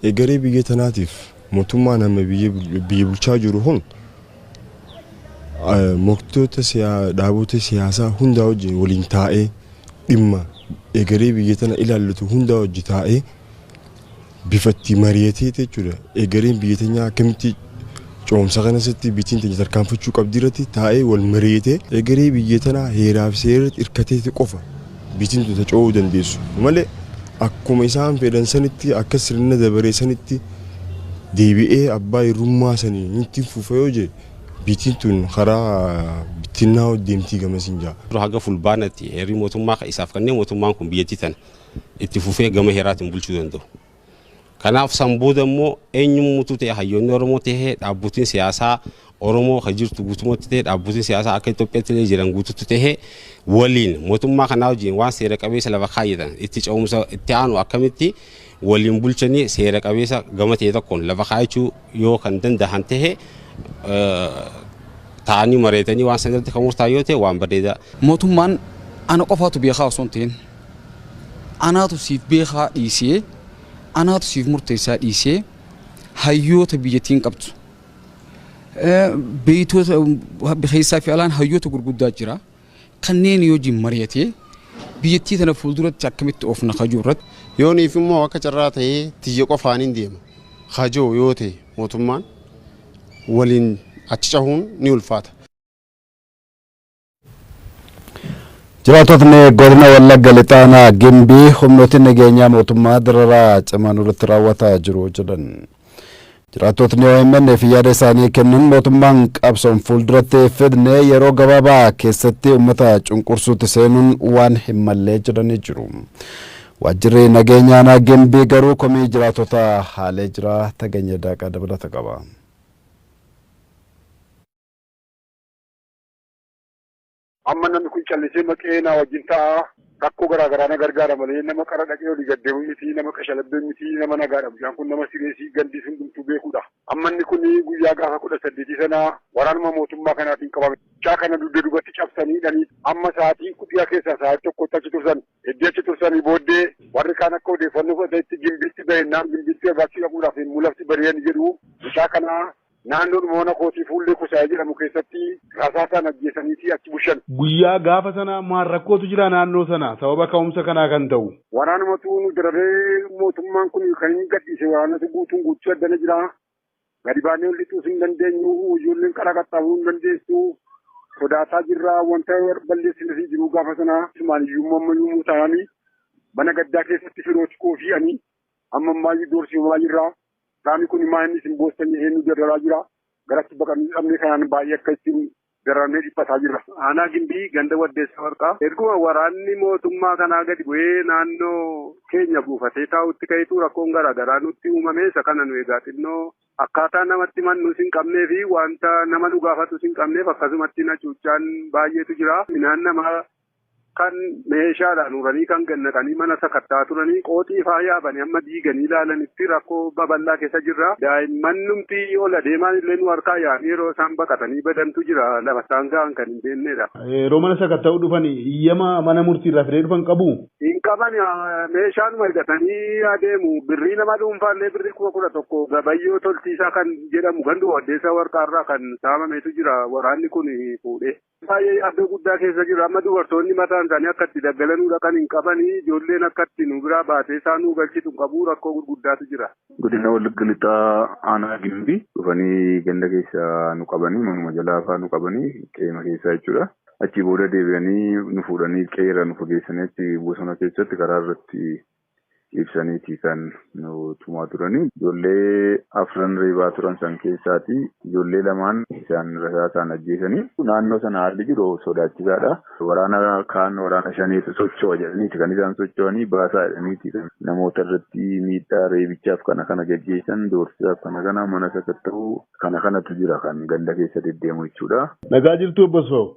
Egeree biyya tanaatiif mootummaan amma biyya bulchaa jiru kun morkattoota dhaabota siyaasaa hundaa wajjin waliin taa'ee dhimma egeree biyya tana ilaallatu hundaa wajji taa'ee bifa itti mari'atee jechuudha. Egereen biyya teenyaa akkamitti Ce'umsa kana keessatti bitiin teenya tarkaanfachuu qabdii irratti taa'ee wal mari'atee egeree biyya tanaa heeraa fi seera irratti irkateeti qofa bitiin tun ta ce'uu dandeessu malee akkuma isaan fedhan sanitti akka sirna dabaree sanitti deebi'ee abbaa irrummaa sanii nutti fufa yoo jee bitiin tun karaa bittinnaa deemtii gamasiin jaa. haga fulbaanatti heerri mootummaa ka isaaf kennee mootummaan kun biyyattii tana itti fufee gama heeraatiin bulchuu danda'u Kanaaf san booda immoo eenyummutu ta'e hayyoonni Oromoo ta'e dhaabbotiin siyaasaa Oromoo ka jirtu guutumatti ta'e dhaabbotiin siyaasaa akka Itoophiyaatti illee jiran guututti ta'e waliin mootummaa kanaa wajjin waan seera qabeessa lafa kaayyatan itti ce'umsa itti aanu akkamitti waliin bulchanii seera qabeessa gama ta'e tokkoon lafa kaayachuu yoo kan danda'an ta'e taa'anii mareetanii waan sanirratti kan murtaa'e yoo ta'e waan bareedaa. Mootummaan ana qofaatu beekaa osoo hin ta'in anaatu siif beekaa dhiisee anaatu siif murteessaa dhiisee hayyoota biyyattiin qabdu beeytoota keessaa fi alaan hayyoota gurguddaa jira. kanneenii wajjin mari'atee biyyattii tana fuulduratti akkamitti oofna ka jiru irratti Yooniif immoo akka carraa ta'ee tiyya qofaanin deema ka jiru yoo ta'e mootummaan waliin achi cahuun ni ulfaata. Jiraatotni godina Wallagga Lixaanaa Gimbii humnooti nageenyaa mootummaa dararaa cimaa nurratti raawwataa jiru jedhan. Jiraattotni OMN'f yaada isaanii kennan mootummaan qabsoon fuulduratti fidne yeroo gabaabaa keessatti uummata cunqursuutti seenuun waan hin mallee jedhanii jiru. Waajjirri nageenya aanaa Gimbii garuu komii jiraattotaa haalee jira. Tageenya Daaqaa dabalata qaba. Amma namni kun callisee maqee naa wajjin ta'a, rakkoo garaa garaa na gargaara malee nama qara dhaqee olii gad deemu miti, nama qashalabbee miti, nama nagaadha. Mucaan kun nama sireesii gandis hundumtuu beekuudha. Amma inni kun guyyaa gaafa kudha saddeetii sana waraanuma mootummaa kanaatiin qabame. Mucaa kana dugda dubatti cabsanii hidhanii amma sa'aatii kudhiyaa keessaa sa'aatii tokkotti achi tursan. Eddii achi tursanii booddee warri kaan akka odeeffannoo fudhatanitti gimbiitti bahennaan gimbiitti barbaachi dhaquudhaaf yommuu lafti bari'an jedhu mucaa kana Naannoodhuma mana kootii Fuullee Kusaayee jedhamu keessatti rasaasaan ajjeesaniiti achi bushan. Guyyaa gaafa sanaa maal rakkootu jira naannoo sana sababa ka'umsa kanaa kan ta'u? Waraanumatu nu dararee mootummaan kun kan inni gadhiise waraanatu guutuun guutuu addana jira. Gadi baanee ol lixuus hin dandeenyu. Ijoolleen karaa qaxxaamuruu hin dandeessu. Sodaataa jirra. Wanta balleessine hin jiru gaafa sana. Sumaan iyyuu amma yommuu taa'anii mana gaddaa keessatti firooti koo fi ani amma ammaayyu doorsifamaa jirra. Qaamni kun maa inni isin boossanii eenyu dararaa jira? Garatti baqannee dhabnee kanaan baay'ee akka ittiin dararamnee dhiphataa jirra. Aanaa Gimbii ganda Waddeessa Warqaa erguma waraanni mootummaa kanaa gadi bu'ee naannoo keenya buufatee taa'utti ka'etu rakkoon garaa garaa nutti uumame isa kana nu egaa xinnoo akkaataa namatti mannus hin qabnee fi wanta nama nu gaafatus hin qabneef akkasumatti na cuuccaan baay'eetu jira. Minaan namaa Kan meeshaadhaan uranii kan gannaqanii mana sakatta'aa turanii qooxii faa yaabanii amma diiganii ilaalanitti rakkoo babal'aa keessa jirra. Daa'imman numti ol adeemaan illee nu harkaa yaa'anii yeroo isaan baqatanii badantu jira lafa isaan ga'an kan hin beeknedha. Yeroo mana sakatta'uu dhufan iyyama mana murtii irraa fidee dhufan qabu? Hin qaban meeshaanuma hidhatanii adeemu birrii nama dhuunfaa illee birrii kuma kudha tokko gabayyoo toltiisaa kan jedhamu ganduma waddeessaa warqaarraa kan saamametu jira waraanni kun fuudhee. Baay'ee yaaddoo guddaa keessa jirra. Amma dubartoonni mataan isaanii akka itti daggalanuu dhaqan hin qabanii. Ijoolleen akka itti nu biraa baatee isaa nuu galchitu hin qabu. Rakkoo gurguddaatu jira. Godina Wallagga Lixaa Aanaa Gimbii dhufanii ganda keessa nu qabanii manuma jalaa faa nu qabanii qeema keessaa jechuudha. Achii booda deebi'anii nu fuudhanii qe'eerraa nu fageessanii achi bosona keessatti karaa irratti ibsaniiti kan nu tumaa turanii. Ijoollee afran reebaa turan san keessaati ijoollee lamaan isaan rasaasaan ajjeesanii. Naannoo sana haalli jiru sodaachisaadha. Waraana kaan waraana shaneetu socho'a jedhaniiti kan isaan socho'anii baasaa jedhaniiti kan namoota irratti miidhaa reebichaaf kana kana gaggeessan doorsisaaf kana kana mana sakatta'uu kana kanatu jira kan ganda keessa deddeemu jechuudha. Nagaa jirtuu obbo Asfaw?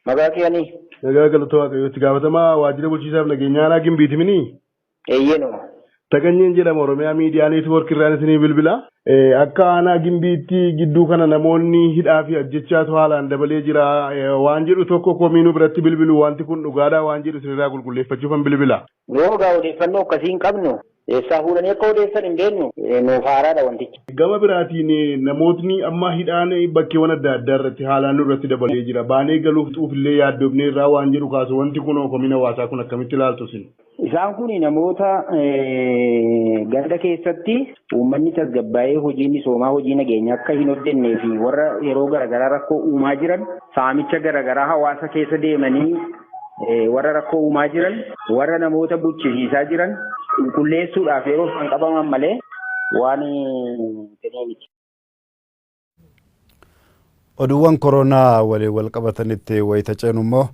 Maqaa kee ani? Nagaa galata waaqayyoo itti gaafatamaa waajjira bulchiisaaf nageenyaa aanaa gimbiiti mini? Eeyyee numa. Taganyeen jedhama oromiyaa miidiyaa neetwoork irraan isinii bilbila. Akka aanaa gimbiitti gidduu kana namoonni hidhaa fi ajjechaatu haalaan dabalee jira waan jedhu tokko komii nu biratti bilbilu wanti kun dhugaadhaa waan jedhu isinirraa qulqulleeffachuufan bilbila. Yoo egaa odeeffannoo akkasii hin qabnu, eessaa fuudhanii akka odeessan hin beeknu, nuuf haaraadha wantichi. Gama biraatiin namootni amma hidhaan bakkeewwan adda addaa irratti haalaan nurratti dabalee jira. Baanee galuuf xuuf illee yaaddofneerraa waan jedhu kaasu. Wanti kunoo komiin hawaasaa kun akkamitti ilaaltu isin? Isaan kun namoota ganda keessatti uummanni tasgabbaa'ee hojii misoomaa, hojii nageenyaa akka hin hojjennee fi warra yeroo garaagaraa rakkoo uumaa jiran saamicha garaagaraa hawaasa keessa deemanii warra rakkoo uumaa jiran, warra namoota buchisiisaa jiran qulqulleessuudhaaf yeroof kan qabaman malee waan ta'ee miti. Oduuwwan koronaa waliin wal qabatanitti wayita ceenu immoo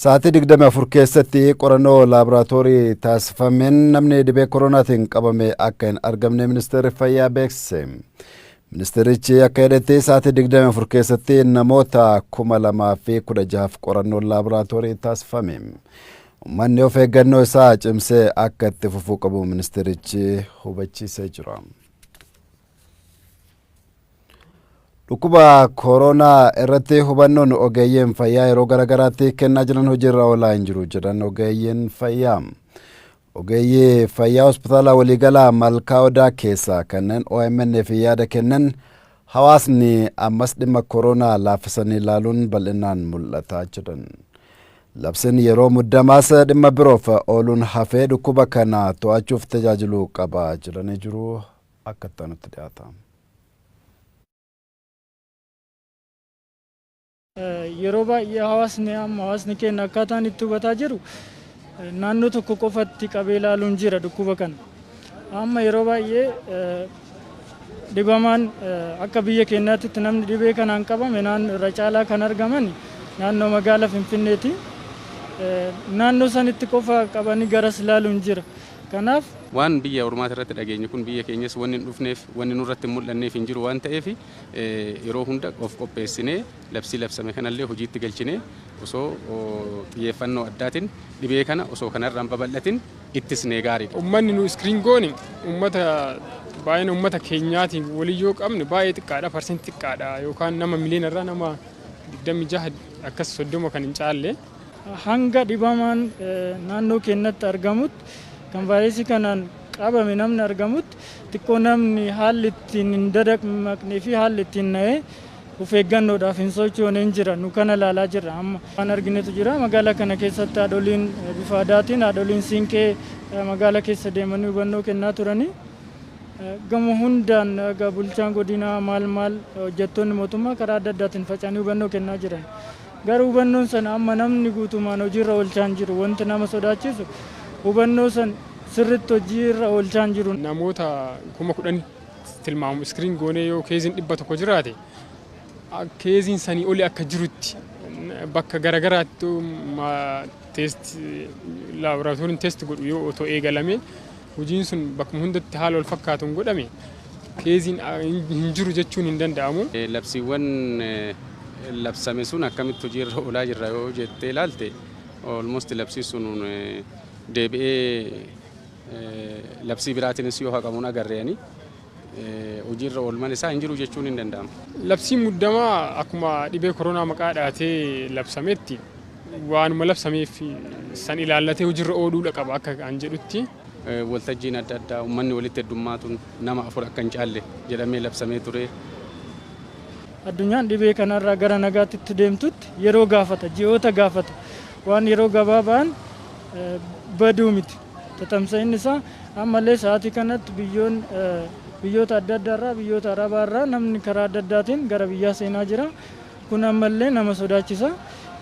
sa'aatii 24 keessatti qorannoo laaboraatoorii taasifameen namni dhibee koronaatiin qabame akka hin argamne ministeerri fayyaa beeksise. Ministeerichi akka jedhetti sa'aatii 24 keessatti namoota 2016f qorannoon laaboraatoorii taasifame. Uummanni of eeggannoo isaa cimsee akka itti fufuu qabu ministeerichi hubachiisee jira. Dhukkuba kooroonaa irratti hubannoon ogeeyyiin fayyaa yeroo garaagaraatti kennaa jiran hojiirra oolaa hin jiru jedhan ogeeyyiin fayyaa. Ogeeyyii fayyaa hospitaala waliigalaa Malkaa Odaa keessaa kanneen OMN'f yaada kennan hawaasni ammas dhimma koroonaa laaffisanii ilaaluun bal'inaan mul'ata jedhan. Labsiin yeroo muddamaas dhimma biroof ooluun hafee dhukkuba kana to'achuuf tajaajiluu qaba jedhanii jiru akka itti aanutti dhiyaata. Yeroo baay'ee hawaasni amma hawaasni keenya akkaataan itti hubataa jiru naannoo tokko qofatti qabee ilaaluun jira dhukkuba kana. Amma yeroo baay'ee dhibamaan akka biyya keenyaatti namni dhibee kanaan qabame irra caalaa kan argaman naannoo magaala Finfinneeti. Naannoo sanitti qofa qabanii garas ilaaluun jira. Kanaaf. Waan biyya ormaati irratti dhageenye kun biyya keenyas wanni hin dhufneef wanni nurratti hin mul'anneef hin jiru waan ta'eef Yeroo hunda of qopheessinee labsii labsame kanallee hojiitti galchinee osoo xiyyeeffannoo addaatin dhibee kana osoo kanarra hin babal'atin ittisnee gaariidha. Ummanni nu screen goone ummata baay'ina ummata keenyaatiin waliin yoo qabne baay'ee xiqqaadha percent xiqqaadha yookaan nama miliyoona irraa nama 26 akkas 30 kan hin caalle. Hanga dhibamaan naannoo keennatti argamutti, kan vaayirasii kanaan qabame namni argamutti xiqqoo namni haalli ittiin hin dadamaqnee fi haalli ittiin na'ee of eeggannoodhaaf hin sochoone hin jira. Nu kana ilaalaa jirra amma. Waan arginetu jira. Magaalaa kana keessatti haadholiin bifa aadaatiin haadholiin siinqee magaala keessa deemanii hubannoo kennaa turanii gama hundaan bulchaan godinaa maal maal hojjettoonni mootummaa karaa adda addaatiin faca'anii hubannoo kennaa jiran. Garuu hubannoon sana amma namni guutumaan hojiirra oolchaan jiru wanti nama sodaachisu hubannoo san sirritti hojii irra oolchaan jiru. Namoota kuma kudhanitti tilmaamu screen goonee yoo keeziin dhibba tokko jiraate keeziin sanii oli akka jirutti bakka garagaraatti test laboratoriin test godhu yoo otoo eegalamee hojiin sun bakkuma hundatti haala wal fakkaatuun godhame Keeziin hin jiru jechuun hin danda'amu. Labsiiwwan labsame sun akkamitti hojii irra oolaa jirra yoo jettee ilaalte almost labsii sun deebi'ee labsii biraatiinis yoo haqamuun agarre ani hojii irra oolman isaa hin jiru jechuun hin danda'amu. Labsiin muddamaa akkuma dhibee koronaa maqaa dhahatee labsametti waanuma labsameef san ilaallatee hojii irra ooluudha qaba akka an jedhutti. Waltajjiin adda addaa ummanni walitti heddummaatuun nama afur akka hin caalle jedhamee labsamee ture. Addunyaan dhibee kanarraa gara nagaatti itti deemtutti yeroo gaafata, ji'oota gaafata. Waan yeroo gabaabaan badu miti. Tatamsa'inni isaa ammallee sa'aatii kanatti biyyoon biyyoota adda addaarraa, biyyoota Arabaarraa namni karaa adda addaatiin gara biyyaa seenaa jira. Kun ammallee nama sodaachisa.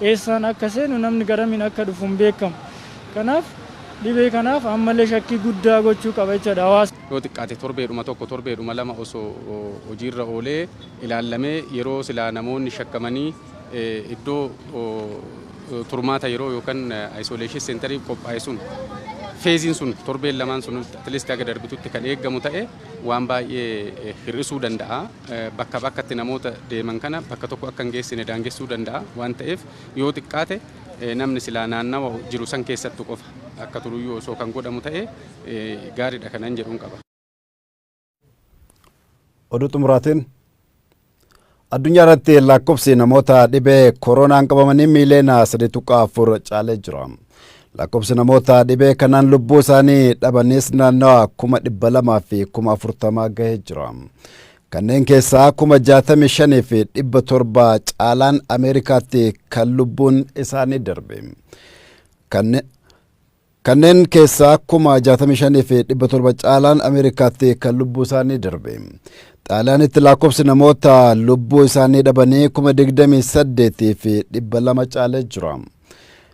Eessaan akka seenu, namni garamiin akka dhufu hin beekamu. Kanaaf dhibee kanaaf ammallee shakkii guddaa gochuu qaba jechuudha hawaasni. Yoo xiqqaate torbeedhuma tokko, torbeedhuma lama osoo hojiirra oolee ilaallamee yeroo silaa namoonni shakkamanii iddoo turmaata yeroo yookan isolation centeriif qophaa'e sun feeziin sun torbeen lamaan sun at least haga darbitutti kan eegamu ta'e waan baay'ee hir'isuu danda'a. bakkaa bakkatti namoota deeman kana bakka tokko akka hin geessine daangessuu danda'a. Waan ta'eef yoo xiqqaate namni silaa naannawa jiru san keessattu qofa akka turuyyuu osoo kan godhamu ta'e gaariidha kanan jedhun qaba. Oduu xumuraatiin Addunyaa irratti lakkoofsi namoota dhibee kooroonaan qabamanii miiliyoona 3.4 caalee jira. Lakkoofsi namoota dhibee kanaan lubbuu isaanii dhabanis naannawa kuma dhibba lamaa fi kuma afurtamaa gahee jira. Kanneen keessaa kuma jaatamii shanii fi dhibba torba caalaan Ameerikaatti kan lubbuun isaanii darbe. Kanneen keessaa kuma jaatamii shanii fi dhibba torba caalaan Ameerikaatti kan lubbuu isaanii darbe. Xaaliyaanitti lakkoofsi namoota lubbuu isaanii dhabanii kuma digdamii saddeetii fi dhibba lama caalee jira.